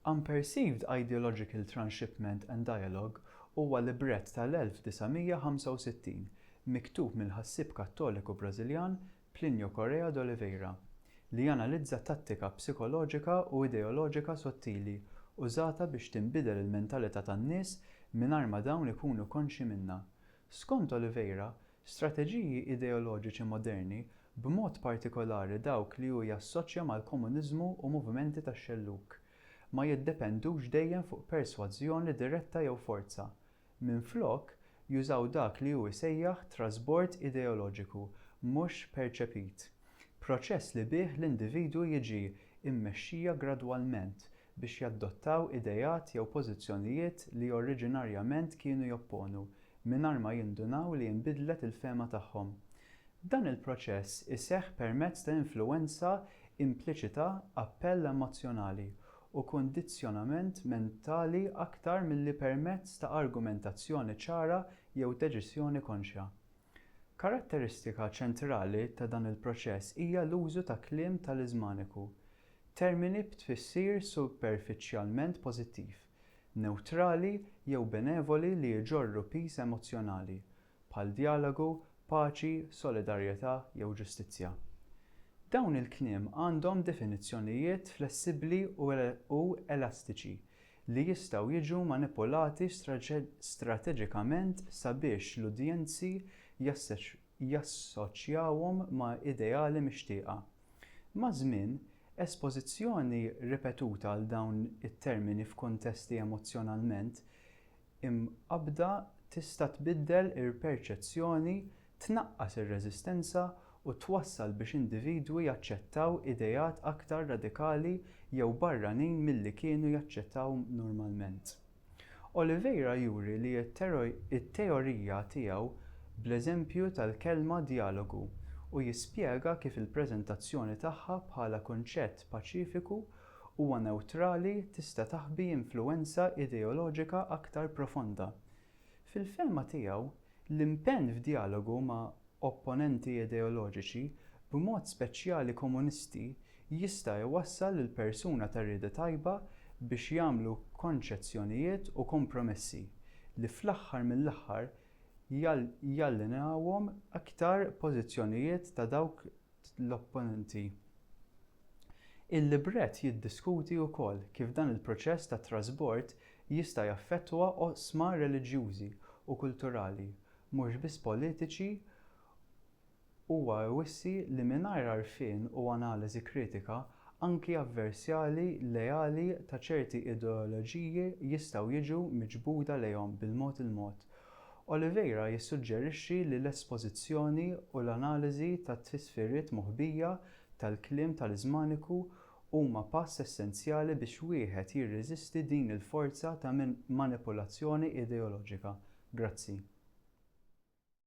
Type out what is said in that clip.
Unperceived Ideological Transshipment and Dialogue huwa librett tal-1965 miktub mill-ħassieb Kattoliku Brażiljan Plinio Correa d'Oliveira li janalizza tattika psikoloġika u ideoloġika sottili użata biex tinbidel il-mentalità tan-nies mingħajr ma dawn ikunu konxji minnha Skont Oliveira, strateġiji ideoloġiċi moderni, b'mod partikolari dawk li hu jassoċja mal-komuniżmu u movimenti tax-xellug, ma jiddependux dejjem fuq persważjoni diretta jew forza. Minflok, jużaw dak li hu jsejjaħ trasbord ideoloġiku mhux perċepit, proċess li bih l-individwu jiġi mmexxija gradwalment biex jadottaw ideat jew pożizzjonijiet li oriġinarjament kienu jopponu, mingħajr ma jindunaw li inbidlet il-fehma tagħhom. Dan il-proċess iseħħ permezz ta' influwenza impliċita, appell emozzjonali, u kundizzjonament mentali aktar milli permezz ta' argumentazzjoni ċara jew deċiżjoni konxja. Karatteristika ċentrali ta' dan il-proċess hija l-użu ta' kliem taliżmaniku, Termini b'tfissir superfiċjalment pożittiv, newtrali jew benevoli li jġorru piż emozzjonali, bħal djalogu, paċi, solidarjetà jew ġustizzja. Dawn il-kliem għandhom definizzjonijiet flessibbli u elastiċi li jistgħu jiġu manipulati strateġikament sabiex l-udjenzi jassoċjawhom ma' ideali mixtieqa. Maż-żmien, espożizzjoni ripetuta għal dawn it-termini f'kuntesti emozzjonalment imqabbda tista' tbiddel il-perċezzjoni, tnaqqas ir-reżistenza, u twassal biex individwi jaċċettaw ideat aktar radikali jew barranin milli kienu jaċċettaw normalment. Oliveira juri li t-teorija tiegħu bl-eżempju tal-kelma djalogu u jispjega kif il-preżentazzjoni tagħha bħala kunċett paċifiku huwa newtrali tista' taħbi influwenza ideoloġika aktar profonda. Fil-fehma tiegħu, l-impenn f'djalogu ma' opponenti ideoloġiċi, b'mod speċjali komunisti, jista' jwassal lil persuna ta' rieda tajba biex jagħmlu konċezzjonijiet u kompromessi li fl-aħħar mill-aħħar jallinjawhom iktar pożizzjonijiet ta' dawk l-opponenti. Il-libret jiddiskuti wkoll kif dan il-proċess ta' trasbord jista' jaffettwa oqsma reliġjużi u kulturali mhux biss politiċi, huwa jwissi li mingħajr għarfien u analiżi kritika, anki avversjali leali ta' ċerti ideoloġiji jistgħu jiġu miġbuda lejhom bil-mod il-mod. Oliveira jissuġġerixxi li l-espożizzjoni u l-analiżi tat-tfisfiriet moħbija tal-kliem tal-iżmaniku huma pass essenzjali biex wieħed jirreżisti din il-forza ta' manipulazzjoni ideoloġika. Grazzi.